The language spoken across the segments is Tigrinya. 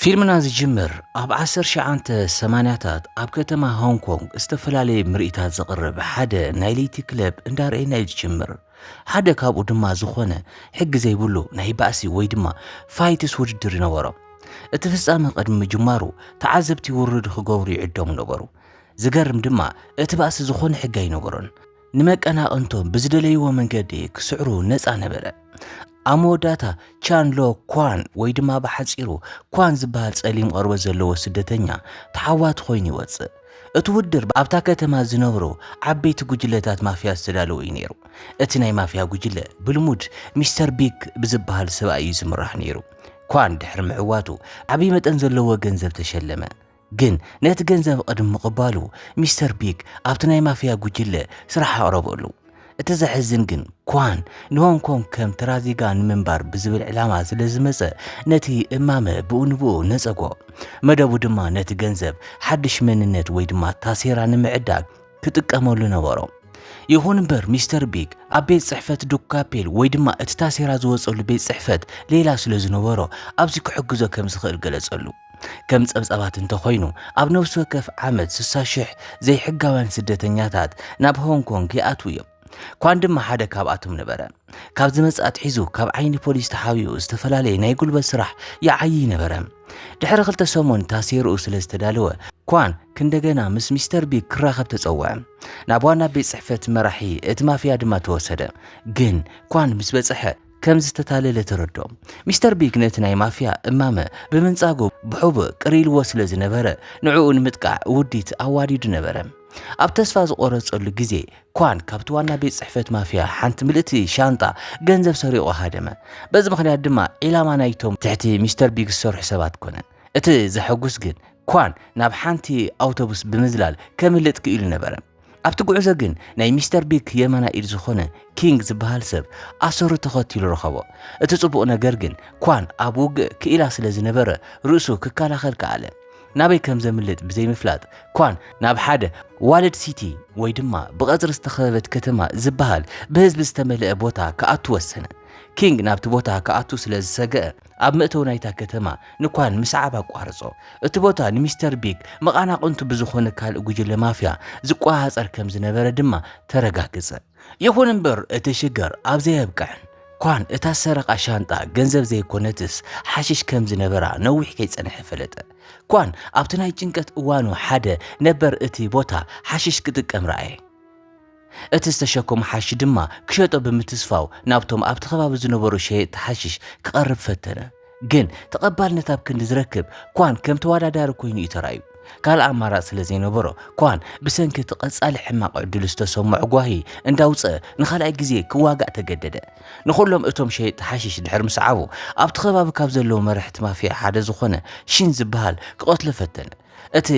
ፊልምና ዝጅምር ኣብ 1980ታት ኣብ ከተማ ሆንግ ኮንግ ዝተፈላለየ ምርኢታት ዘቕርብ ሓደ ናይ ለይቲ ክለብ እንዳርኤና እዩ ዝጅምር ሓደ ካብኡ ድማ ዝኾነ ሕጊ ዘይብሉ ናይ ባእሲ ወይ ድማ ፋይትስ ውድድር ይነበሮም እቲ ፍጻመ ቅድሚ ምጅማሩ ተዓዘብቲ ውርድ ክገብሩ ይዕደሙ ነበሩ ዝገርም ድማ እቲ ባእሲ ዝኾነ ሕጊ ኣይነበሮን። ንመቀናቕንቶም ብዝደለይዎ መንገዲ ክስዕሩ ነፃ ነበረ። ኣብ መወዳእታ ቻን ሎ ኳን ወይ ድማ ብሓፂሩ ኳን ዝበሃል ጸሊም ቐርቦት ዘለዎ ስደተኛ ተዓዋቲ ኮይኑ ይወጽእ። እቲ ውድድር ኣብታ ከተማ ዝነብሩ ዓበይቲ ጉጅለታት ማፍያ ዝተዳለወ እዩ ነይሩ። እቲ ናይ ማፍያ ጉጅለ ብልሙድ ሚስተር ቢግ ብዝበሃል ሰብኣይ እዩ ዝምራሕ ነይሩ። ኳን ድሕሪ ምዕዋቱ ዓብዪ መጠን ዘለዎ ገንዘብ ተሸለመ። ግን ነቲ ገንዘብ ቕድሚ ምቕባሉ ሚስተር ቢግ ኣብቲ ናይ ማፍያ ጉጅለ ስራሕ ኣቕረበሉ። እቲ ዘሕዝን ግን ኳን ንሆንግ ኮንግ ከም ተራ ዜጋ ንምንባር ብዝብል ዕላማ ስለ ዝመጸ ነቲ እማመ ብኡ ንብኡ ነጸጎ። መደቡ ድማ ነቲ ገንዘብ ሓድሽ መንነት ወይ ድማ ታሴራ ንምዕዳግ ክጥቀመሉ ነበሮ። ይኹን እምበር ሚስተር ቢግ ኣብ ቤት ጽሕፈት ዱክ ካፔል ወይ ድማ እቲ ታሴራ ዝወጸሉ ቤት ጽሕፈት ሌላ ስለ ዝነበሮ ኣብዚ ክሕግዞ ከም ዝኽእል ገለጸሉ። ከም ጸብጻባት እንተኾይኑ ኣብ ነፍሲ ወከፍ ዓመት ስሳ ሽሕ ዘይሕጋውያን ስደተኛታት ናብ ሆንግ ኮንግ ይኣትዉ እዮም። ኳን ድማ ሓደ ካብኣቶም ነበረ። ካብ ዝመጽእ ኣትሒዙ ካብ ዓይኒ ፖሊስ ተሓቢኡ ዝተፈላለየ ናይ ጉልበት ስራሕ ይዓይይ ነበረ። ድሕሪ ክልተ ሰሙን ታሴርኡ ስለ ዝተዳለወ ኳን ክንደገና ምስ ሚስተር ቢግ ክራኸብ ተጸውዐ። ናብ ዋና ቤት ጽሕፈት መራሒ እቲ ማፍያ ድማ ተወሰደ። ግን ኳን ምስ በጽሐ ከም ዝተታለለ ተረድኦ። ሚስተር ቢግ ነቲ ናይ ማፍያ እማመ ብምንጻጉ ብሑቡእ ቅር ኢልዎ ስለ ዝነበረ ንዕኡ ንምጥቃዕ ውዲት ኣዋዲዱ ነበረ። ኣብ ተስፋ ዝቖረጸሉ ግዜ ኳን ካብቲ ዋና ቤት ጽሕፈት ማፍያ ሓንቲ ምልእቲ ሻንጣ ገንዘብ ሰሪቑ ሃደመ። በዚ ምኽንያት ድማ ዒላማ ናይቶም ትሕቲ ሚስተር ቢግ ዝሰርሑ ሰባት ኮነ። እቲ ዘሐጉስ ግን ኳን ናብ ሓንቲ ኣውቶቡስ ብምዝላል ከምልጥ ክኢሉ ነበረ። ኣብቲ ጉዕዞ ግን ናይ ሚስተር ቢግ የማናይ ኢድ ዝኾነ ኪንግ ዝበሃል ሰብ ኣሰሩ ተኸቲሉ ረኸቦ። እቲ ጽቡቕ ነገር ግን ኳን ኣብ ውግእ ክኢላ ስለ ዝነበረ ርእሱ ክከላኸል ከኣለ። ናበይ ከም ዘምልጥ ብዘይምፍላጥ ኳን ናብ ሓደ ዋልድ ሲቲ ወይ ድማ ብቐጽሪ ዝተኸበበት ከተማ ዝበሃል ብህዝቢ ዝተመልአ ቦታ ክኣቱ ወሰነ። ኪንግ ናብቲ ቦታ ክኣቱ ስለ ዝሰገኣ ኣብ መእተዊ ናይታ ከተማ ንኳን ምስዓብ ኣቋርጾ። እቲ ቦታ ንሚስተር ቢግ መቓናቕንቱ ብዝዀነ ካልእ ጕጅለ ማፍያ ዝቈጻጸር ከም ዝነበረ ድማ ተረጋግጸ። ይኹን እምበር እቲ ሽግር ኣብ'ዚ ኣየብቅዐን። ኳን እታ ዝሰረቓ ሻንጣ ገንዘብ ዘይኰነትስ ሓሽሽ ከም ዝነበራ ነዊሕ ከይጸንሐ ፈለጠ። ኳን ኣብቲ ናይ ጭንቀት እዋኑ ሓደ ነበር እቲ ቦታ ሓሽሽ ክጥቀም ረኣየ። እቲ ዝተሸከሞ ሓሺሽ ድማ ክሸጦ ብምትስፋው ናብቶም ኣብቲ ከባቢ ዝነበሩ ሸየጥቲ ሓሺሽ ክቐርብ ፈተነ። ግን ተቐባልነት ኣብ ክንዲ ዝረክብ ኳን ከም ተወዳዳሪ ኮይኑ እዩ ተራእዩ። ካልእ ኣማራጺ ስለ ዘይነበሮ ኳን ብሰንኪ እቲ ቀጻሊ ሕማቕ ዕድሉ ዝተሰምዖ ጓሂ እንዳውጽኣ ንኻልኣይ ግዜ ክዋጋእ ተገደደ። ንኹሎም እቶም ሸየጥቲ ሓሺሽ ድሕሪ ምስዓቡ ኣብቲ ከባቢ ካብ ዘለዉ መራሕቲ ማፍያ ሓደ ዝኾነ ሺን ዝበሃል ክቐትሎ ፈተነ። እቲ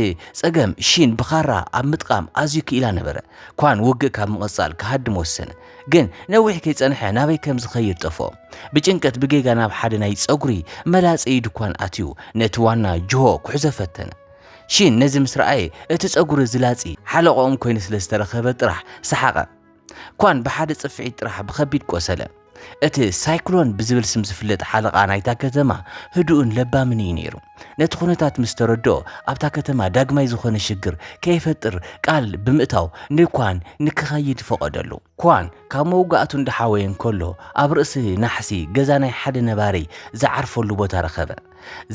ጸገም ሺን ብኻራ ኣብ ምጥቓም ኣዝዩ ክኢላ ነበረ። ኳን ውግእ ካብ ምቕጻል ክሃድም ወሰነ። ግን ነዊሕ ከይጸንሐ ናበይ ከም ዝኸይድ ጠፍኦ። ብጭንቀት ብጌጋ ናብ ሓደ ናይ ጸጉሪ መላጸዪ ድኳን ኣትዩ ነቲ ዋና ጅሆ ክሕዞ ፈተነ። ሺን ነዚ ምስ ረኣየ እቲ ጸጉሪ ዝላጺ ሓለቓኦም ኮይኑ ስለ ዝተረኸበ ጥራሕ ሰሓቐ። ኳን ብሓደ ጽፍዒት ጥራሕ ብኸቢድ ቆሰለ። እቲ ሳይክሎን ብዝብል ስም ዝፍለጥ ሓለቓ ናይታ ከተማ ህዱእን ለባምን እዩ ነይሩ። ነቲ ኩነታት ምስ ተረድኦ ኣብታ ከተማ ዳግማይ ዝኾነ ሽግር ከይፈጥር ቃል ብምእታው ንኳን ንክኸይድ ፈቐደሉ። ኳን ካብ መውጋእቱ እንዳሓወየ እንከሎ ኣብ ርእሲ ናሕሲ ገዛ ናይ ሓደ ነባሪ ዝዓርፈሉ ቦታ ረኸበ።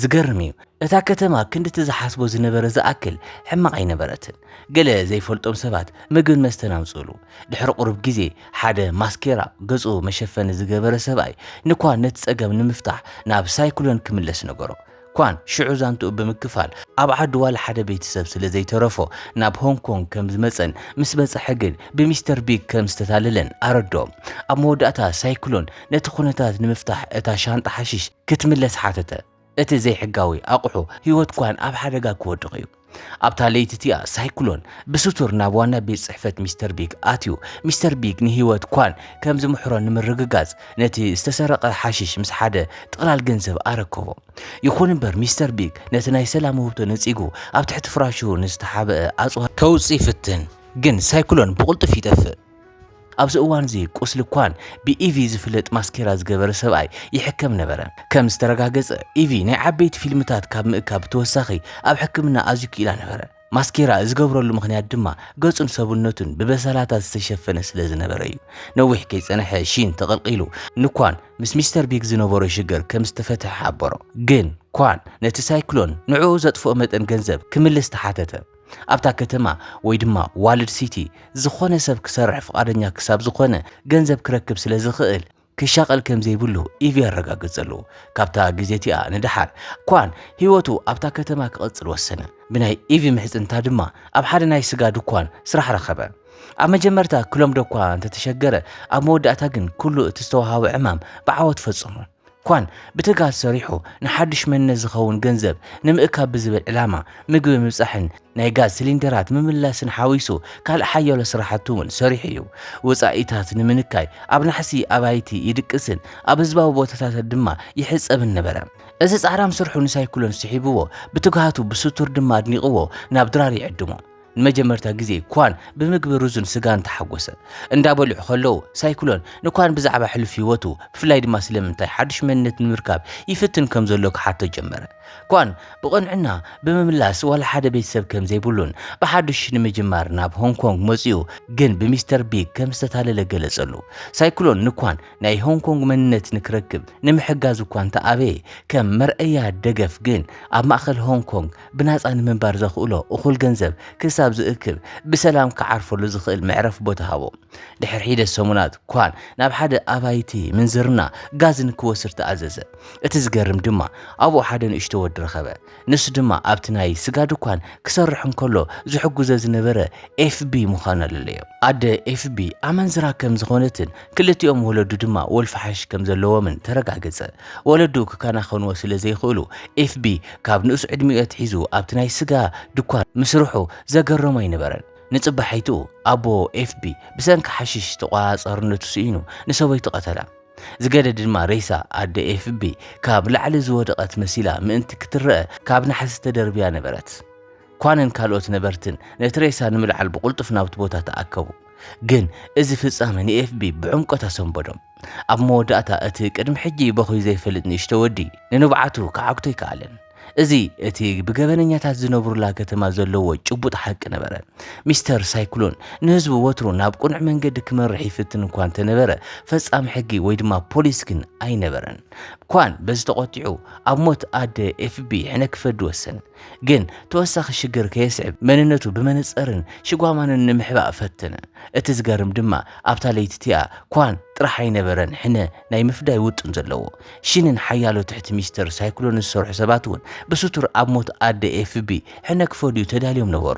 ዝገርም እዩ፣ እታ ከተማ ክንድቲ ዝሓስቦ ዝነበረ ዝኣክል ሕማቕ ኣይነበረትን። ገለ ዘይፈልጦም ሰባት ምግብን መስተን ኣምጽእሉ። ድሕሪ ቁሩብ ግዜ ሓደ ማስኬራ፣ ገጹ መሸፈኒ፣ ዝገበረ ሰብኣይ ንኳን ነቲ ጸገም ንምፍታሕ ናብ ሳይክሎን ክምለስ ነገሮ። ኳን ሽዑ ዛንትኡ ብምክፋል ኣብ ዓዱ ዋላ ሓደ ቤተሰብ ስለ ዘይተረፎ ናብ ሆንግ ኮንግ ከም ዝመጸን ምስ በጽሐ ግን ብሚስተር ቢግ ከም ዝተታለለን ኣረድኦ። ኣብ መወዳእታ ሳይክሎን ነቲ ኩነታት ንምፍታሕ እታ ሻንጣ ሓሽሽ ክትምለስ ሓተተ። እቲ ዘይሕጋዊ ኣቕሑ ህይወት ኳን ኣብ ሓደጋ ክወድቕ እዩ። ኣብታ ለይቲ እቲኣ ሳይክሎን ብስቱር ናብ ዋና ቤት ጽሕፈት ሚስተር ቢግ ኣትዩ። ሚስተር ቢግ ንህይወት ኳን ከም ዝምሕሮ ንምርግጋጽ ነቲ ዝተሰረቐ ሓሽሽ ምስ ሓደ ጥቕላል ገንዘብ ኣረከቦ። ይኹን እምበር ሚስተር ቢግ ነቲ ናይ ሰላም ውህብቶ ነጺጉ ኣብ ትሕቲ ፍራሹ ንዝተሓብአ ኣጽዋር ከውጽእ ይፍትን፣ ግን ሳይክሎን ብቕልጡፍ ይጠፍእ። ኣብዚ እዋን'ዚ ቁስሊ ኳን ብኢቪ ዝፍለጥ ማስኬራ ዝገበረ ሰብኣይ ይሕከም ነበረ። ከም ዝተረጋገጸ፣ ኢቪ ናይ ዓበይቲ ፊልምታት ካብ ምእካብ ብተወሳኺ ኣብ ሕክምና ኣዝዩ ክኢላ ነበረ። ማስኬራ ዝገብረሉ ምኽንያት ድማ ገጹን ሰብነቱን ብበሰላታት ዝተሸፈነ ስለ ዝነበረ'ዩ። ነዊሕ ከይጸንሐ ሺን ተቐልቒሉ ንኳን ምስ ሚስተር ቢግ ዝነበሮ ሽግር ከም ዝተፈትሐ ሓበሮ። ግን ኳን ነቲ ሳይክሎን ንዕኡ ዘጥፍኦ መጠን ገንዘብ ክምልስ ተሓተተ። ኣብታ ከተማ ወይ ድማ ዋልድ ሲቲ ዝኾነ ሰብ ክሰርሕ ፍቓደኛ ክሳብ ዝኾነ ገንዘብ ክረክብ ስለ ዝኽእል ክሻቐል ከም ዘይብሉ ኢቪ ኣረጋገጸሉ። ካብታ ግዜ እቲኣ ንደሓር፣ ኳን ህይወቱ ኣብታ ከተማ ክቕጽል ወሰነ። ብናይ ኢቪ ምሕጽንታ ድማ ኣብ ሓደ ናይ ስጋ ድኳን ስራሕ ረኸበ። ኣብ መጀመርታ ክለምዶ እኳ እንተ ተሸገረ፣ ኣብ መወዳእታ ግን ኩሉ እቲ ዝተወሃቦ ዕማም ብዓወት ፈጸሞ። ኳን ብትግሃት ሰሪሑ ንሓዱሽ መንነት ዝኸውን ገንዘብ ንምእካብ ብዝብል ዕላማ ምግቢ ምብጻሕን ናይ ጋዝ ሲሊንደራት ምምላስን ሓዊሱ ካልእ ሓያሎ ስራሕቲ እውን ሰሪሑ እዩ። ወጻኢታት ንምንካይ ኣብ ናሕሲ ኣባይቲ ይድቅስን ኣብ ህዝባዊ ቦታታት ድማ ይሕጸብን ነበረ። እዚ ጻዕራም ስርሑ ንሳይክሎን ስሒብዎ ብትግሃቱ ብስቱር ድማ ኣድኒቕዎ ናብ ድራር ይዕድሞ። ንመጀመርታ ግዜ ኳን ብምግቢ ሩዝን ስጋን ተሓጎሰ። እንዳበልዑ ከለዉ ሳይክሎን ንኳን ብዛዕባ ሕሉፍ ህይወቱ ብፍላይ ድማ ስለምንታይ ሓዱሽ መንነት ንምርካብ ይፍትን ከም ዘሎ ክሓቶ ጀመረ። ኳን ብቕንዕና ብምምላስ ዋላ ሓደ ቤተሰብ ከም ዘይብሉን ብሓዱሽ ንምጅማር ናብ ሆንግ ኮንግ መጺኡ ግን ብሚስተር ቢግ ከም ዝተታለለ ገለጸሉ። ሳይክሎን ንኳን ናይ ሆንግ ኮንግ መንነት ንክረክብ ንምሕጋዝ እኳ እንተኣበየ ከም መርኣያ ደገፍ ግን ኣብ ማእከል ሆንግ ኮንግ ብናጻ ንምንባር ዘኽእሎ እኹል ገንዘብ ክሳብ ዝእክብ ብሰላም ክዓርፈሉ ዝኽእል መዕረፊ ቦታ ሃቦ። ድሕሪ ሒደት ሰሙናት፣ ኳን ናብ ሓደ ኣባይቲ ምንዝርና ጋዝ ንክወስድ ተኣዘዘ። እቲ ዝገርም ድማ፣ ኣብኡ ሓደ ንእሽቶ ወዲ ረኸበ። ንሱ ድማ ኣብቲ ናይ ስጋ ድኳን ክሰርሕ እንከሎ ዝሕግዞ ዝነበረ ኤፍቢ ምዃኑ ኣለለዮ። ኣደ ኤፍቢ ኣመንዝራ ከም ዝዀነትን ክልቲኦም ወለዱ ድማ ወልፊ ሓሽሽ ከም ዘለዎምን ተረጋገጸ። ወለዱ ክከናኸንዎ ስለ ዘይክእሉ፣ ኤፍቢ ካብ ንኡስ ዕድሚኡ ኣትሒዙ ኣብቲ ናይ ስጋ ድኳን ምስርሑ ዘገረሞ ኣይነበረን። ንጽባሒቱ ኣቦ ኤፍቢ ብሰንኪ ሓሽሽ ተቖጻጻርነቱ ስኢኑ ንሰበይቱ ቀተላ። ዝገደደ ድማ ሬሳ ኣደ ኤፍቢ ካብ ላዕሊ ዝወደቐት መሲላ ምእንቲ ክትረኣ ካብ ናሕሲ ተደርብያ ነበረት። ኳንን ካልኦት ነበርትን ነቲ ሬሳ ንምልዓል ብቕልጡፍ ናብቲ ቦታ ተኣከቡ። ግን እዚ ፍጻመ ንኤፍቢ ብዕምቆት ኣሰንበዶም። ኣብ መወዳእታ እቲ ቅድሚ ሕጂ በዂዩ ዘይፈልጥ ንእሽቶ ወዲ ንንብዓቱ ክዓግቶ ኣይከኣለን። እዚ እቲ ብገበነኛታት ዝነብሩላ ከተማ ዘለዎ ጭቡጥ ሓቂ ነበረ። ሚስተር ሳይክሎን ንህዝቡ ወትሩ ናብ ቅኑዕ መንገዲ ክመርሕ ይፍትን እኳ እንተነበረ፣ ፈጻሚ ሕጊ ወይ ድማ ፖሊስ ግን ኣይነበረን። ኳን በዚ ተቖጢዑ ኣብ ሞት ኣደ ኤፍቢ ሕነ ክፈዲ ወሰነ። ግን ተወሳኺ ሽግር ከየስዕብ መንነቱ ብመነጸርን ሽጓማንን ንምሕባእ ፈተነ። እቲ ዝገርም ድማ ኣብታ ለይቲ እቲኣ ኳን ጥራሕ ኣይነበረን ሕነ ናይ ምፍዳይ ውጥን ዘለዎ። ሺንን ሓያሎ ትሕቲ ሚስተር ሳይክሎን ዝሰርሑ ሰባት እውን ብስቱር ኣብ ሞት ኣደ ኤፍቢ ሕነ ክፈድዩ ተዳልዮም ነበሩ።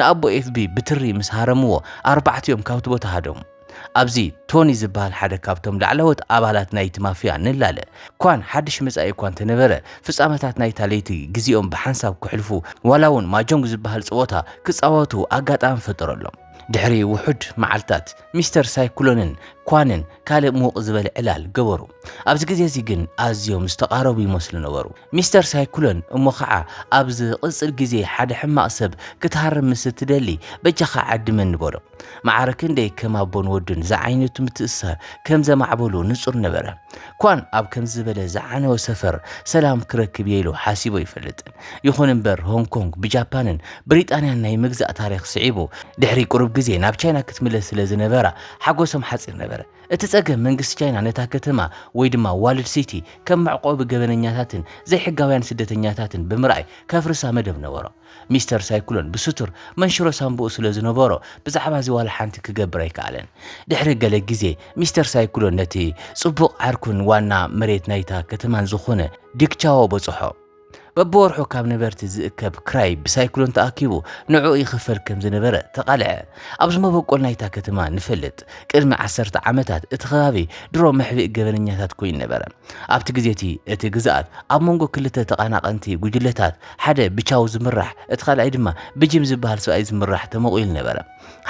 ንኣቦ ኤፍቢ ብትሪ ምስ ሃረምዎ ኣርባዕቲኦም ካብቲ ቦታ ሃደሙ። ኣብዚ ቶኒ ዝበሃል ሓደ ካብቶም ላዕለዎት ኣባላት ናይቲ ማፍያ ንላለ ኳን ሓድሽ መጻኢ እኳ እንተነበረ፣ ፍጻመታት ናይታ ለይቲ ግዜኦም ብሓንሳብ ከሕልፉ ዋላ እውን ማጆንግ ዝበሃል ጸወታ ክጻወቱ ኣጋጣሚ ፈጠረሎም። ድሕሪ ውሑድ መዓልትታት፣ ሚስተር ሳይክሎንን ኳንን ካልእ ምውቕ ዝበለ ዕላል ገበሩ። ኣብዚ ግዜ እዚ ግን ኣዝዮም ዝተቓረቡ ይመስሉ ነበሩ። ሚስተር ሳይክሎን እሞ ኸኣ ኣብ ዝቕጽል ግዜ ሓደ ሕማቕ ሰብ ክትሃርም ምስ እትደሊ በጃኻ ዓድመኒ በሎ። መዓረ ክንደይ ከም ኣቦን ወድን ዝዓይነቱ ምትእስሳር ከም ዘማዕበሉ ንጹር ነበረ። ኳን ኣብ ከምዚ ዝበለ ዝዓነወ ሰፈር ሰላም ክረክብ እየ ኢሉ ሓሲቡ ኣይፈልጥን። ይኹን እምበር ሆንግ ኮንግ ብጃፓንን ብሪጣንያን ናይ ምግዛእ ታሪኽ ስዒቡ ድሕሪ ቁሩብ ግዜ ናብ ቻይና ክትምለስ ስለ ዝነበራ ሓጎሶም ሓጺር ነበረ። እቲ ጸገም መንግስቲ ቻይና ነታ ከተማ ወይ ድማ ዋልድ ሲቲ ከም መዕቆቢ ገበነኛታትን ዘይሕጋውያን ስደተኛታትን ብምርኣይ ከፍርሳ መደብ ነበሮ። ሚስተር ሳይክሎን ብስቱር መንሽሮ ሳንቡኡ ስለ ዝነበሮ ብዛዕባዚ ዋላ ሓንቲ ክገብር ኣይከኣለን። ድሕሪ ገለ ግዜ ሚስተር ሳይክሎን ነቲ ጽቡቕ ዓርኩን ዋና መሬት ናይታ ከተማን ዝኾነ ዲክ ቻዎ በጽሖ። በብወርሑ ካብ ነበርቲ ዝእከብ ክራይ ብሳይክሎን ተኣኪቡ ንዕኡ ይኽፈል ከም ዝነበረ ተቓልዐ። ኣብዚ መበቆል ናይታ ከተማ ንፈልጥ። ቅድሚ ዓሰርተ ዓመታት እቲ ከባቢ ድሮ መሕብኢ ገበነኛታት ኮይኑ ነበረ። ኣብቲ ግዜ እቲ፣ እቲ ግዝኣት ኣብ መንጎ ክልተ ተቓናቐንቲ ጕጅለታት፣ ሓደ ብቻው ዝምራሕ፣ እቲ ካልኣይ ድማ ብጂም ዚብሃል ሰብኣይ ዚምራሕ፣ ተመቒሉ ነበረ።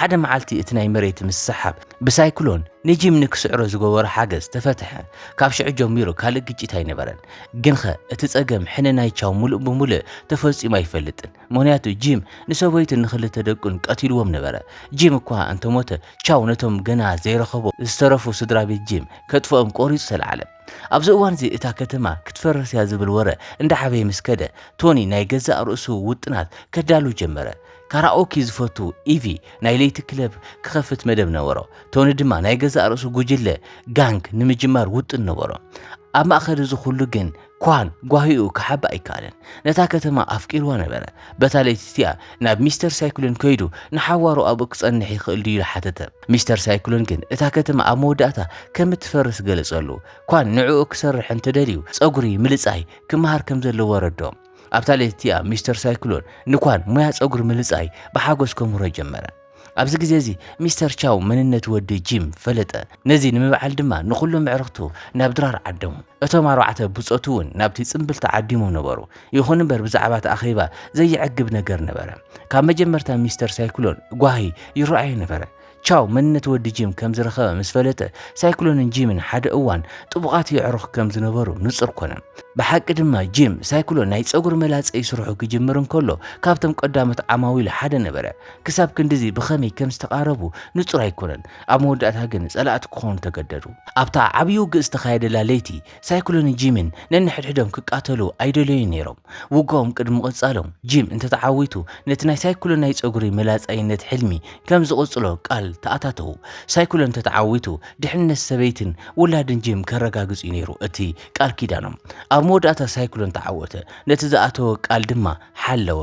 ሓደ መዓልቲ እቲ ናይ መሬት ምስሕሓብ ብሳይክሎን ንጂም ንኪስዕሮ ዝገበሮ ሓገዝ ተፈትሐ። ካብ ሽዑ ጀሚሩ ካልእ ግጭት ኣይነበረን። ግንኸ እቲ ጸገም ሕነ ናይ ቻው ምሉእ ብምሉእ ተፈጺሙ ኣይፈልጥን። ምኽንያቱ ጂም ንሰበይቱን ንኽልተ ደቁን ቀቲልዎም ነበረ። ጂም እኳ እንተ ሞተ፣ ቻው ነቶም ገና ዘይረኸቦ ዝተረፉ ስድራ ቤት ጂም ከጥፍኦም ቈሪጹ ተላዕለ። ኣብዚ እዋን እዚ እታ ከተማ ክትፈርስ እያ ዝብል ወረ እንዳ ዓበየ ምስ ከደ፣ ቶኒ ናይ ገዛእ ርእሱ ውጥናት ከዳሉ ጀመረ። ካራኦኪ ዝፈቱ ኢቪ ናይ ለይቲ ክለብ ክኸፍት መደብ ነበሮ። ቶኒ ድማ ናይ ገዛእ ርእሱ ጉጅለ፣ ጋንግ፣ ንምጅማር ውጥን ነበሮ። ኣብ ማእከል እዚ ዅሉ ግን ኳን ጓሂኡ ክሓብ ኣይከኣለን። ነታ ከተማ ኣፍቂርዋ ነበረ። በታ ለይቲ እቲኣ ናብ ሚስተር ሳይክሎን ከይዱ ንሓዋሩ ኣብኡ ክጸንሕ ይኽእል ድዩ ኢሉ ሓተተ። ሚስተር ሳይክሎን ግን እታ ከተማ ኣብ መወዳእታ ከም እትፈርስ ገለጸሉ። ኳን ንዕኡ ክሰርሕ እንተ ደልዩ ጸጉሪ ምልጻይ ክመሃር ከም ዘለዎ ኣረድኦ። ኣብታ ለይቲ እቲኣ ሚስተር ሳይክሎን ንኳን ሞያ ጸጉሪ ምልጻይ ብሓጎስ ከምህሮ ጀመረ። ኣብዚ ግዜ እዚ ሚስተር ቻው መንነት ወዲ ጂም ፈለጠ። ነዚ ንምብዓል ድማ ንኹሎም ኣዕርኽቱ ናብ ድራር ዓደሙ። እቶም ኣርባዕተ ብጾቱ እውን ናብቲ ጽምብል ተዓዲሞም ነበሩ። ይኹን እምበር ብዛዕባ እቲ ኣኼባ ዘየዕግብ ነገር ነበረ። ካብ መጀመርታ ሚስተር ሳይክሎን ጓሂ ይረኣዮ ነበረ። ቻው መንነት ወዲ ጂም ከም ዝረኸበ ምስ ፈለጠ፣ ሳይክሎንን ጂምን ሓደ እዋን ጥቡቓት የዕሩኽ ከም ዝነበሩ ንጹር ኮነ። ብሓቂ ድማ ጂም፣ ሳይክሎን ናይ ጸጉሪ መላጸ ስርሑ ክጅምር እንከሎ ካብቶም ቀዳሞት ዓማዊሉ ሓደ ነበረ። ክሳብ ክንድዚ ብኸመይ ከም ዝተቓረቡ ንጹር ኣይኰነን፣ ኣብ መወዳእታ ግን ጸላእቲ ክዀኑ ተገደዱ። ኣብታ ዓብዪ ውግእ ዝተኻየደላ ለይቲ፣ ሳይክሎንን ጂምን ነንሕድሕዶም ክቃተሉ ኣይደለዩን ነይሮም። ውግኦም ቅድሚ ምቕጻሎም፣ ጂም እንተ ተዓዊቱ ነቲ ናይ ሳይክሎን ናይ ጸጕሪ መላጻይነት ሕልሚ ከም ዝቕጽሎ ቃል ተኣታተዉ። ሳይክሎን እንተ ተዓዊቱ፣ ድሕንነት ሰበይትን ውላድን ጂም ከረጋግጽ'ዩ ነይሩ እቲ ቃል ኪዳኖም። ኣብ መወዳእታ ሳይክሎን ተዓወተ፣ ነቲ ዝኣተዎ ቃል ድማ ሓለወ።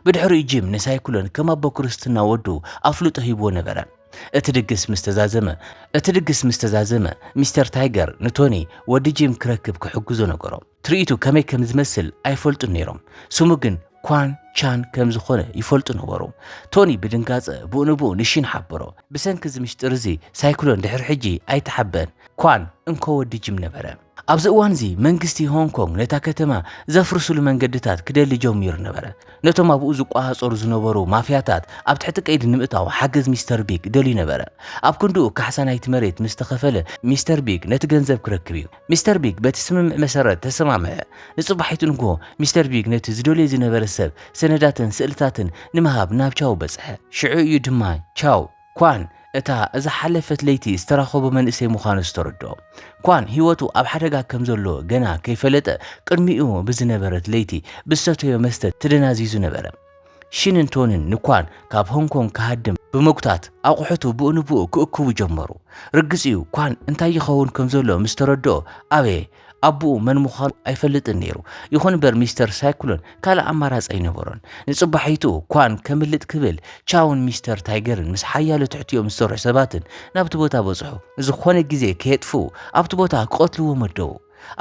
ብድሕሪኡ ጂም ንሳይክሎን ከም ኣቦ ክርስትና ወዱ ኣፍልጦ ሂብዎ ነበረ። እቲ ድግስ ምስ ተዛዘመ እቲ ድግስ ምስ ተዛዘመ ሚስተር ታይገር ንቶኒ ወዲ ጂም ክረክብ ክሕግዞ ነገሮ። ትርኢቱ ከመይ ከም ዝመስል ኣይፈልጡን ነይሮም፣ ስሙ ግን ኳን ቻን ከም ዝኾነ ይፈልጡ ነበሩ። ቶኒ ብድንጋጸ ብኡ ንብኡ ንሺን ሓበሮ። ብሰንኪ እዚ ምሽጢር እዚ ሳይክሎን ድሕሪ ሕጂ ኣይተሓበን። ኳን እንኮ ወዲ ጂም ነበረ። ኣብዚ እዋንዚ መንግስቲ ሆንግ ኮንግ ነታ ከተማ ዘፍርስሉ መንገድታት ክደሊ ጀሚሩ ነበረ። ነቶም ኣብኡ ዝቆጻጸሩ ዝነበሩ ማፍያታት ኣብ ትሕቲ ቀይዲ ንምእታው ሓገዝ ሚስተር ቢግ ደልዩ ነበረ። ኣብ ክንድኡ ካሕሳ ናይቲ መሬት ምስ ተኸፈለ ሚስተር ቢግ ነቲ ገንዘብ ክረክብ እዩ። ሚስተር ቢግ በቲ ስምምዕ መሰረት ተሰማምዐ። ንጽባሒቱ ንግሆ ሚስተር ቢግ ነቲ ዝደልዮ ዝነበረ ሰብ ሰነዳትን ስእልታትን ንምሃብ ናብ ቻው በጽሐ። ሽዑ እዩ ድማ ቻው። ኳን እታ ዝሓለፈት ለይቲ ዝተራኸቦ መንእሰይ ምዃኑ ዝተረድኦ ኳን ህይወቱ ኣብ ሓደጋ ከም ዘሎ ገና ከይፈለጠ ቅድሚኡ ብዝነበረት ለይቲ ብዝሰተዮ መስተ ተደናዚዙ ነበረ። ሺንን ቶንን ንኳን ካብ ሆንግ ኮንግ ክሃድም ብምጉታት ኣቑሑቱ ብኡ ንብኡ ክእክቡ ጀመሩ። ርግጽ'ዩ ኳን እንታይ ይኸውን ከም ዘሎ ምስ ተረድኦ ኣበየ። ኣቡኡ መን ምዃኑ ኣይፈልጥን ነይሩ። ይኹን እምበር ሚስተር ሳይክሎን ካልእ ኣማራጺ ኣይነበሮን። ንጽባሒትኡ ኳን ከምልጥ ክብል ቻውን ሚስተር ታይገርን ምስ ሓያሎ ትሕቲኦም ዝሰርሑ ሰባትን ናብቲ ቦታ በጽሑ። ዝኾነ ግዜ ከየጥፍኡ ኣብቲ ቦታ ክቐትልዎ መደቡ።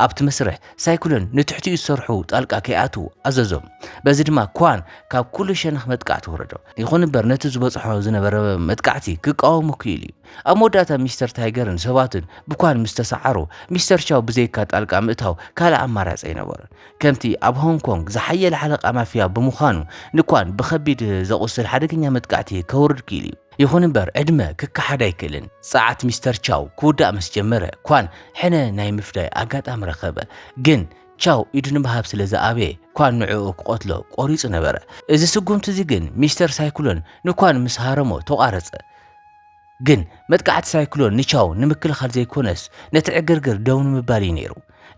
ኣብቲ መስርሕ ሳይክሎን ንትሕቲኡ ዝሰርሑ ጣልቃ ከይኣትዉ ኣዘዞም። በዚ ድማ ኳን ካብ ኩሉ ሸነኽ መጥቃዕቲ ወረዶ። ይኹን እምበር ነቲ ዝበጽሖ ዝነበረ መጥቃዕቲ ክቃወሞ ክኢሉ'ዩ። ኣብ መወዳእታ ሚስተር ታይገርን ሰባቱን ብኳን ምስ ተሰዓሩ፣ ሚስተር ቻው ብዘይካ ጣልቃ ምእታው ካልእ ኣማራጺ ኣይነበሮን። ከምቲ ኣብ ሆንግ ኮንግ ዝሓየለ ሓለቓ ማፍያ ብምዃኑ፣ ንኳን ብኸቢድ ዘቝስል ሓደገኛ መጥቃዕቲ ከውርድ ክኢሉ እዩ። ይኹን እምበር፣ ዕድመ ክከሓድ ኣይክእልን። ጸዓት ሚስተር ቻው ክውዳእ ምስ ጀመረ፣ ኳን ሕነ ናይ ምፍዳይ ኣጋጣሚ ረኸበ። ግን ቻው ኢዱ ንምሃብ ስለ ዝኣበየ፣ ኳን ንዕኡ ክቐትሎ ቈሪጹ ነበረ። እዚ ስጕምቲ እዚ ግን ሚስተር ሳይክሎን ንኳን ምስ ሃረሞ ተቛረጸ። ግን መጥቃዕቲ ሳይክሎን ንቻው ንምክልኻል ዘይኮነስ ነቲ ዕግርግር ደው ንምባል እዩ ነይሩ።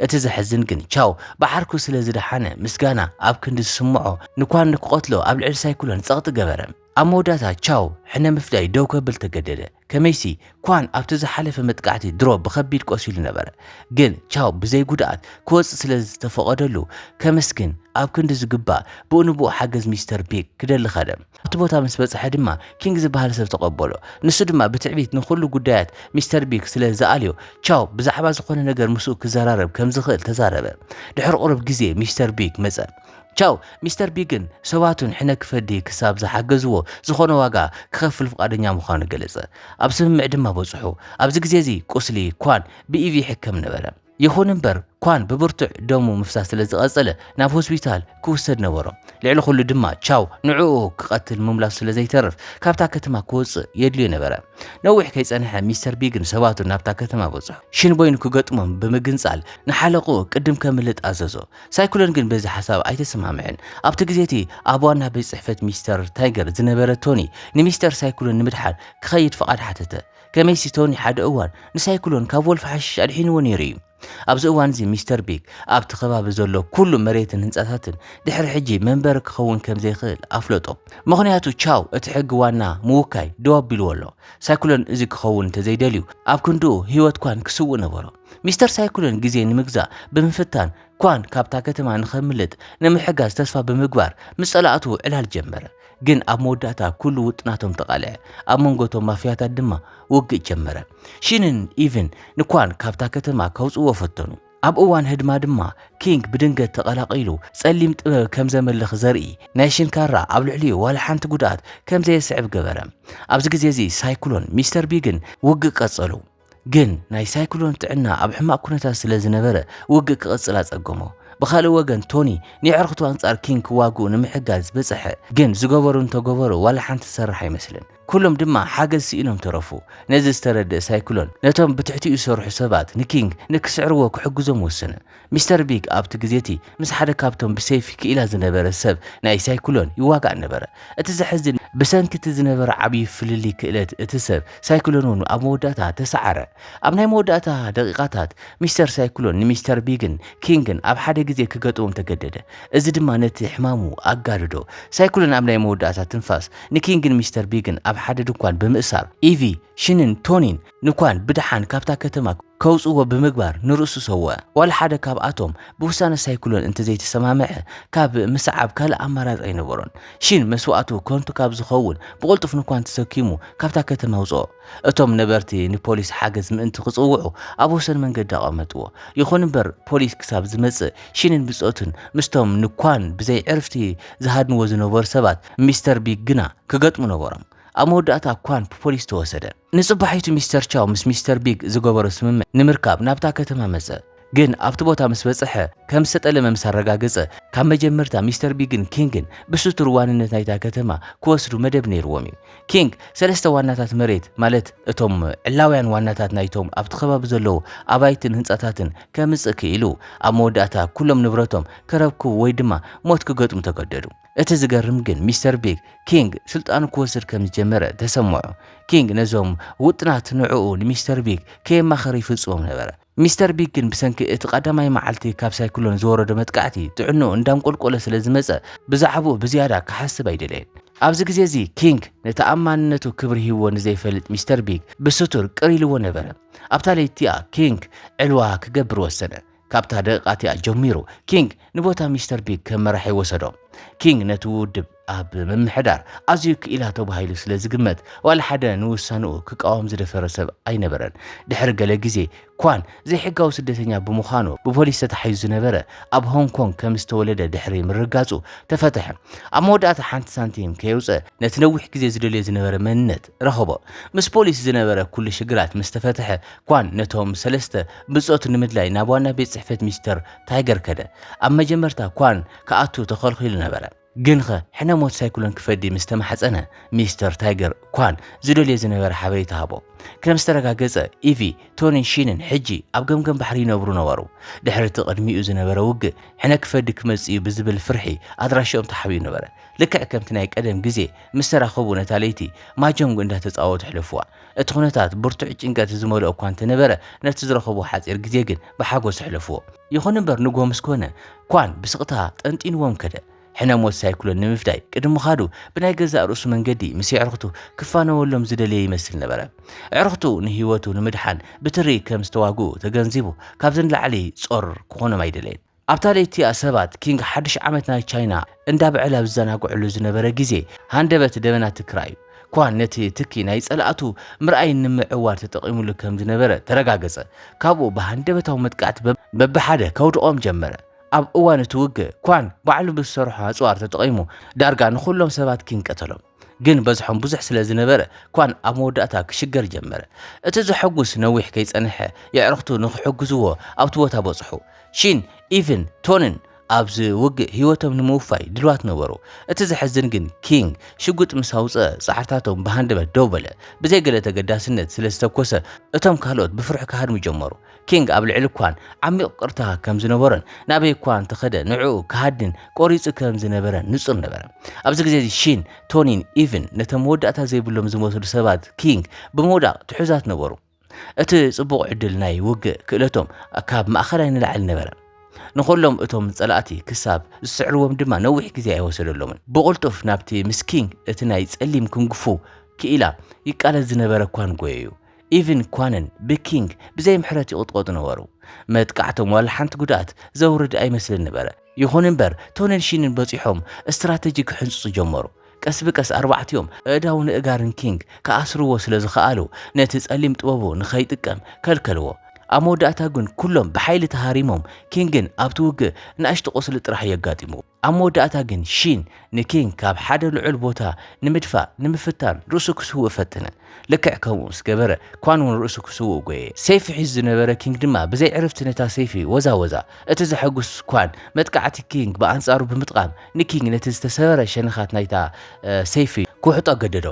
እቲ ዘሕዝን ግን ቻው ብዓርኩ ስለ ዝደሓነ ምስጋና ኣብ ክንዲ ዝስምዖ ንኳን ንክቐትሎ ኣብ ልዕሊ ሳይክሎን ጸቕጢ ገበረ። ኣብ መወዳእታ ቻው ሕነ ምፍዳይ ደው ከብል ተገደደ። ከመይሲ ኳን ኣብቲ ዝሓለፈ መጥቃዕቲ ድሮ ብኸቢድ ቆሲሉ ነበረ። ግን ቻው ብዘይ ጉድኣት ክወጽእ ስለ ዝተፈቐደሉ ከመስግን ኣብ ክንዲ ዝግባእ ብኡ ንብኡ ሓገዝ ሚስተር ቢክ ክደሊ ከደ። ኣብቲ ቦታ ምስ በጽሐ ድማ ኪንግ ዝበሃል ሰብ ተቐበሎ። ንሱ ድማ ብትዕቢት ንኹሉ ጉዳያት ሚስተር ቢግ ስለ ዝኣልዮ፣ ቻው ብዛዕባ ዝኾነ ነገር ምስኡ ክዘራረብ ከም ዝኽእል ተዛረበ። ድሕሪ ቁሩብ ግዜ ሚስተር ቢግ መጸ። ቻው ሚስተር ቢግን ሰባቱን ሕነ ክፈዲ ክሳብ ዝሓገዝዎ ዝኾነ ዋጋ ክኸፍል ፍቓደኛ ምዃኑ ገለጸ። ኣብ ስምምዕ ድማ በጽሑ። ኣብዚ ግዜ እዚ ቁስሊ ኳን ብኢቪ ይሕከም ነበረ። ይኹን እምበር ኳን ብብርቱዕ ደሙ ምፍሳስ ስለ ዝቐጸለ ናብ ሆስፒታል ክውሰድ ነበሮ። ልዕሊ ኹሉ ድማ ቻው ንዕኡ ክቐትል ምምላሱ ስለ ዘይተርፍ ካብታ ከተማ ክወጽእ የድልዮ ነበረ። ነዊሕ ከይጸንሐ ሚስተር ቢግን ሰባቱን ናብታ ከተማ በጽሑ። ሽንቦይ ንክገጥሞም ብምግንጻል ንሓለቕኡ ቅድም ከምልጥ ኣዘዞ። ሳይክሎን ግን በዚ ሓሳብ ኣይተሰማምዐን። ኣብቲ ግዜ እቲ ኣብ ዋና ቤት ጽሕፈት ሚስተር ታይገር ዝነበረ ቶኒ ንሚስተር ሳይክሎን ንምድሓን ክኸይድ ፍቓድ ሓተተ። ከመይሲ ቶኒ ሓደ እዋን ንሳይክሎን ካብ ወልፊ ሓሽሽ ኣድሒንዎ ነይሩ እዩ። ኣብዚ እዋን እዚ ሚስተር ቢግ ኣብቲ ከባቢ ዘሎ ኩሉ መሬትን ህንጻታትን ድሕሪ ሕጂ መንበሪ ክኸውን ከም ዘይክእል ኣፍለጦ። ምኽንያቱ ቻው እቲ ሕጊ ዋና ምውካይ ደው ኣቢልዎ ኣሎ። ሳይክሎን እዚ ክኸውን እንተ ዘይደልዩ ኣብ ክንድኡ ህይወት ኳን ክስውእ ነበሮ። ሚስተር ሳይክሎን ግዜ ንምግዛእ ብምፍታን ኳን ካብታ ከተማ ንኸምልጥ ንምሕጋዝ ተስፋ ብምግባር ምስ ጸላእቱ ዕላል ጀመረ። ግን ኣብ መወዳእታ ኩሉ ውጥናቶም ተቓልዐ። ኣብ መንጎ እቶም ማፍያታት ድማ ውግእ ጀመረ። ሺንን ኢቭን ንኳን ካብታ ከተማ ከውጽእዎ ፈተኑ። ኣብ እዋን ህድማ ድማ ኪንግ ብድንገት ተቐላቒሉ ጸሊም ጥበብ ከም ዘምልኽ ዘርኢ ናይ ሽን ካራ ኣብ ልዕሊኡ ዋላ ሓንቲ ጉድኣት ከም ዘየስዕብ ገበረ። ኣብዚ ግዜ እዚ ሳይክሎን ሚስተር ቢግን ውግእ ቀጸሉ። ግን ናይ ሳይክሎን ጥዕና ኣብ ሕማቕ ኩነታት ስለ ዝነበረ ውግእ ክቕጽል ኣጸገሞ። ብኻልእ ወገን ቶኒ ንየዕርኽቱ ኣንጻር ኪንግ ክዋግኡ ንምሕጋዝ በጸሐ፣ ግን ዝገበሩ እንተገበሩ ዋላ ሓንቲ ዝሰርሕ ኣይመስልን። ኩሎም ድማ ሓገዝ ስኢኖም ተረፉ። ነዚ ዝተረድእ ሳይክሎን ነቶም ብትሕቲኡ ዝሰርሑ ሰባት ንኪንግ ንክስዕርዎ ክሕግዞም ወሰነ። ሚስተር ቢግ ኣብቲ ግዜ እቲ ምስ ሓደ ካብቶም ብሰይፊ ክኢላ ዝነበረ ሰብ ናይ ሳይክሎን ይዋጋእ ነበረ። እቲ ዘሕዝን፣ ብሰንኪ እቲ ዝነበረ ዓብዪ ፍልልይ ክእለት እቲ ሰብ ሳይክሎን እውን ኣብ መወዳእታ ተሰዓረ። ኣብ ናይ መወዳእታ ደቒቓታት፣ ሚስተር ሳይክሎን ንሚስተር ቢግን ኪንግን ኣብ ሓደ ግዜ ክገጥሞም ተገደደ፣ እዚ ድማ ነቲ ሕማሙ ኣጋደዶ። ሳይክሎን ኣብ ናይ መወዳእታ ትንፋስ ንኪንግን ሚስተር ቢግን ኣብ ሓደ ድኳን ብምእሳር፣ ኢቪ፣ ሽንን ቶኒን፣ ንኳን ብደሓን ካብታ ከተማ ከውጽእዎ ብምግባር ንርእሱ ሰወኣ። ዋላ ሓደ ካብኣቶም ብውሳነ ሳይክሎን እንተዘይተሰማምዐ ካብ ምስዓብ ካልእ ኣማራጺ ኣይነበሮን። ሺን መስዋእቱ ከንቱ ካብ ዝኸውን ብቕልጡፍ ንኳን ተሰኪሙ ካብታ ከተማ ኣውጽኦ። እቶም ነበርቲ ንፖሊስ ሓገዝ ምእንቲ ክጽውዑ ኣብ ወሰን መንገዲ ኣቐመጥዎ። ይኹን እምበር ፖሊስ ክሳብ ዝመጽእ ሺንን ብጾቱን ምስቶም ንኳን ብዘይዕርፍቲ ዝሃድንዎ ዝነበሩ ሰባት ሚስተር ቢግ ግና ክገጥሙ ነበሮም። ኣብ መወዳእታ ኳን ብፖሊስ ተወሰደ። ንጽባሒቱ ሚስተር ቻው ምስ ሚስተር ቢግ ዝገበሮ ስምምዕ ንምርካብ ናብታ ከተማ መጸ። ግን ኣብቲ ቦታ ምስ በጸሐ ከም ዝተጠለመ ምስ ኣረጋገጸ፣ ካብ መጀመርታ ሚስተር ቢግን ኪንግን ብስቱር ዋንነት ናይታ ከተማ ክወስዱ መደብ ነይርዎም እዩ። ኪንግ ሰለስተ ዋናታት መሬት ማለት እቶም ዕላውያን ዋናታት ናይቶም ኣብቲ ከባቢ ዘለዉ ኣባይትን ህንጻታትን ከምጽእ ክኢሉ። ኣብ መወዳእታ ኩሎም ንብረቶም ከረክቡ ወይ ድማ ሞት ክገጥሙ ተገደዱ። እቲ ዝገርም ግን ሚስተር ቢግ ኪንግ ስልጣኑ ክወስድ ከም ዝጀመረ ተሰምዖ። ኪንግ ነዞም ውጥናት ንዕኡ ንሚስተር ቢግ ከየማኸረ ይፍጽሞም ነበረ። ሚስተር ቢግ ግን ብሰንኪ እቲ ቀዳማይ መዓልቲ ካብ ሳይክሎን ዝወረዶ መጥቃዕቲ ጥዕንኡ እንዳንቆልቆለ ስለ ዝመጸ ብዛዕብኡ ብዝያዳ ክሓስብ ኣይደለየን። ኣብዚ ግዜ እዚ ኪንግ ንተኣማንነቱ ክብሪ ሂብዎ ንዘይፈልጥ ሚስተር ቢግ ብስቱር ቅር ኢልዎ ነበረ። ኣብታ ለይቲ'ያ ኪንግ ዕልዋ ክገብር ወሰነ። ካብታ ደቂቃ እቲኣ ጀሚሩ ኪንግ ንቦታ ሚስተር ቢግ ከም መራሒ ወሰዶ። ኪንግ ነቲ ውድብ ኣብ ምምሕዳር ኣዝዩ ክኢላ ተባሂሉ ስለ ዝግመት ዋላ ሓደ ንውሳንኡ ክቃወም ዝደፈረ ሰብ ኣይነበረን። ድሕሪ ገለ ግዜ ኳን ዘይሕጋዊ ስደተኛ ብምዃኑ ብፖሊስ ተታሒዙ ዝነበረ ኣብ ሆንግ ኮንግ ከም ዝተወለደ ድሕሪ ምርግጋጹ ተፈትሐ። ኣብ መወዳእታ ሓንቲ ሳንቲም ከየውጸ ነቲ ነዊሕ ግዜ ዝደልዮ ዝነበረ መንነት ረኸቦ። ምስ ፖሊስ ዝነበረ ኩሉ ሽግራት ምስ ተፈትሐ፣ ኳን ነቶም ሰለስተ ብጾቱ ንምድላይ ናብ ዋና ቤት ጽሕፈት ሚስተር ታይገር ከደ። ኣብ መጀመርታ ኳን ክኣቱ ተኸልኺሉ ነበረ። ግንኸ ሕነ ሞት ሳይክሎን ክፈዲ ምስ ተማሕጸነ፣ ሚስተር ታይገር ኳን ዝደልዮ ዝነበረ ሓበሬታ ሃቦ። ከም ዝተረጋገጸ፣ ኢቪ፣ ቶኒን ሺንን ሕጂ ኣብ ገምገም ባሕሪ ይነብሩ ነበሩ። ድሕሪ እቲ ቅድሚኡ ዝነበረ ውግእ፣ ሕነ ክፈዲ ክመጽእ'ዩ ብዝብል ፍርሒ ኣድራሽኦም ተሓቢኡ ነበረ። ልክዕ ከምቲ ናይ ቀደም ግዜ፣ ምስ ተራኸቡ ነታ ለይቲ ማጀንግ እንዳተጻወቱ ኣሕለፉዋ። እቲ ኵነታት ብርቱዕ ጭንቀት ዝመልኦ እኳ እንተ ነበረ፣ ነቲ ዝረኸብዎ ሓጺር ግዜ ግን ብሓጐስ ኣሕለፉዎ። ይኹን እምበር ንግሆ ምስ ኰነ፣ ኳን ብስቕታ ጠንጢኑዎም ከደ። ሕነ ሞት ሳይክሎን ንምፍዳይ ቅድሚ ምኻዱ ብናይ ገዛእ ርእሱ መንገዲ ምስ የዕርኽቱ ክፋነወሎም ዝደለየ ይመስል ነበረ። ኣዕርኽቱ ንህይወቱ ንምድሓን ብትሪ ከም ዝተዋግኡ ተገንዚቡ ካብዚ ንላዕሊ ጾር ክዀኖም ኣይደለየን። ኣብታ ለይቲ'ያ ሰባት ኪንግ ሓድሽ ዓመት ናይ ቻይና እንዳብዐል ኣብ ዝዘናግዕሉ ዝነበረ ግዜ ሃንደበት ደበና ትኪ ራእዩ። ኳን ነቲ ትኪ ናይ ጸላእቱ ምርኣይ ንምዕዋር ተጠቂሙሉ ከም ዝነበረ ተረጋገጸ። ካብኡ ብሃንደበታዊ መጥቃዕቲ በብሓደ ከውድቖም ጀመረ። ኣብ እዋን እቲ ውግእ ኳን ባዕሉ ብዝሰርሖ ኣጽዋር ተጠቂሙ ዳርጋ ንኹሎም ሰባት ኪንግ ቀተሎም። ግን በዝሖም ብዙሕ ስለ ዝነበረ ኳን ኣብ መወዳእታ ክሽገር ጀመረ። እቲ ዘሐጉስ ነዊሕ ከይጸንሐ የዕርኽቱ ንኽሕግዝዎ ኣብቲ ቦታ በጽሑ። ሺን፣ ኢቭን፣ ቶንን ኣብዚ ውግእ ህይወቶም ንምውፋይ ድልዋት ነበሩ። እቲ ዘሕዝን ግን ኪንግ ሽጉጥ ምስ ኣውጽኣ ጻዕርታቶም ብሃንደበት ደው በለ። ብዘይ ገለ ተገዳስነት ስለ ዝተኮሰ እቶም ካልኦት ብፍርሒ ክሃድሙ ጀመሩ። ኪንግ ኣብ ልዕሊ ኳን ዓሚቕ ቅርታ ከም ዝነበሮን ናበይ እኳ እንተኸደ ንዕኡ ክሃድን ቆሪጹ ከም ዝነበረን ንጹር ነበረ። ኣብዚ ግዜ እዚ ሺን፣ ቶኒን ኢቭን ነቶም መወዳእታ ዘይብሎም ዝመስሉ ሰባት ኪንግ ብምውዳቕ ትሑዛት ነበሩ። እቲ ጽቡቕ ዕድል ናይ ውግእ ክእለቶም ካብ ማእከላይ ንላዕሊ ነበረ። ንኹሎም እቶም ጸላእቲ ክሳብ ዝስዕርዎም ድማ ነዊሕ ግዜ ኣይወሰደሎምን። ብቕልጡፍ ናብቲ ምስ ኪንግ እቲ ናይ ጸሊም ኩንግፉ ክኢላ ይቃለስ ዝነበረ ኳን ጎየዩ። ኢቭን ኳንን ብኪንግ ብዘይ ምሕረት ይቕጥቐጡ ነበሩ። መጥቃዕቶም ዋላ ሓንቲ ጉድኣት ዘውርድ ኣይመስልን ነበረ። ይኹን እምበር ቶንን ሺንን በጺሖም ስትራተጂ ክሕንጽጹ ጀመሩ። ቀስ ብቀስ ኣርባዕቲኦም ኣእዳውን ኣእጋርን ኪንግ ክኣስርዎ ስለ ዝኸኣሉ ነቲ ጸሊም ጥበቡ ንኸይጥቀም ከልከልዎ። ኣብ መወዳእታ ግን ኩሎም ብሓይሊ ተሃሪሞም ኪንግን ኣብቲ ውግእ ንኣሽቱ ቁስሊ ጥራሕ እዩ ኣጋጢምዎ። ኣብ መወዳእታ ግን ሺን ንኪንግ ካብ ሓደ ልዑል ቦታ ንምድፋእ ንምፍታን ርእሱ ክስውእ ፈተነ። ልክዕ ከምኡ ምስ ገበረ፣ ኳን እውን ርእሱ ክስውእ ጐየ። ሰይፊ ሒዙ ዝነበረ ኪንግ ድማ ብዘይ ዕርፍቲ ነታ ሰይፊ ወዛወዛ። እቲ ዘሐጕስ ኳን፣ መጥቃዕቲ ኪንግ ብኣንጻሩ ብምጥቓም ንኪንግ ነቲ ዝተሰበረ ሸነኻት ናይታ ሰይፊ ክውሕጦ ኣገደዶ።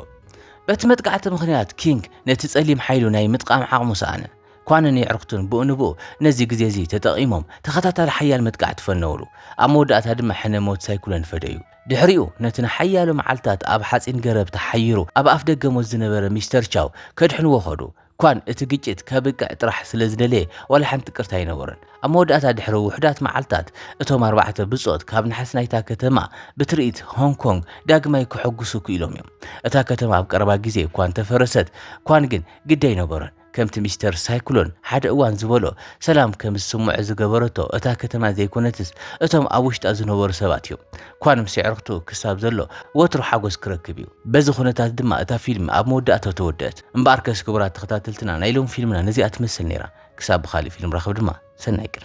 በቲ መጥቃዕቲ ምኽንያት ኪንግ ነቲ ጸሊም ሓይሉ ናይ ምጥቓም ዓቕሙ ሰኣነ። ኳንን የዕርክቱን ብኡ ንብኡ ነዚ ግዜ እዚ ተጠቒሞም ተኸታታሊ ሓያል መጥቃዕቲ ፈነውሉ። ኣብ መወዳእታ ድማ ሕነ ሞት ሳይኩሎን ፈደዩ። ድሕሪኡ ነቲ ንሓያሎ መዓልትታት ኣብ ሓጺን ገረብ ተሓይሩ ኣብ ኣፍደገ ሞት ዝነበረ ሚስተር ቻው ከድሕንዎ ከዱ። ኳን እቲ ግጭት ከብቅዕ ጥራሕ ስለ ዝደለየ ዋላ ሓንቲ ቅርታ ኣይነበሮን። ኣብ መወዳእታ ድሕሪ ውሑዳት መዓልትታት እቶም ኣርባዕተ ብጾት ካብ ናሕሲ ናይታ ከተማ ብትርኢት ሆንግ ኮንግ ዳግማይ ከሐጉሱ ክኢሎም እዮም። እታ ከተማ ኣብ ቀረባ ግዜ እኳ እንተፈረሰት ኳን ግን ግዲ ኣይነበሮን። ከምቲ ሚስተር ሳይክሎን ሓደ እዋን ዝበሎ፣ ሰላም ከም ዝስምዖ ዝገበረቶ እታ ከተማ ዘይኰነትስ፣ እቶም ኣብ ውሽጣ ዝነበሩ ሰባት እዮም። ኳን ምስ ኣዕሩኽቱ ክሳብ ዘሎ፣ ወትሩ ሓጐስ ክረክብ እዩ። በዚ ዅነታት ድማ እታ ፊልም ኣብ መወዳእታኡ ተወድአት። እምበኣርከስ ክቡራት ተኸታተልትና፣ ናይ ሎሚ ፊልምና ነዚኣ ትመስል ነይራ። ክሳብ ብኻልእ ፊልም ንራኸብ ድማ፣ ሰናይ ቅነ!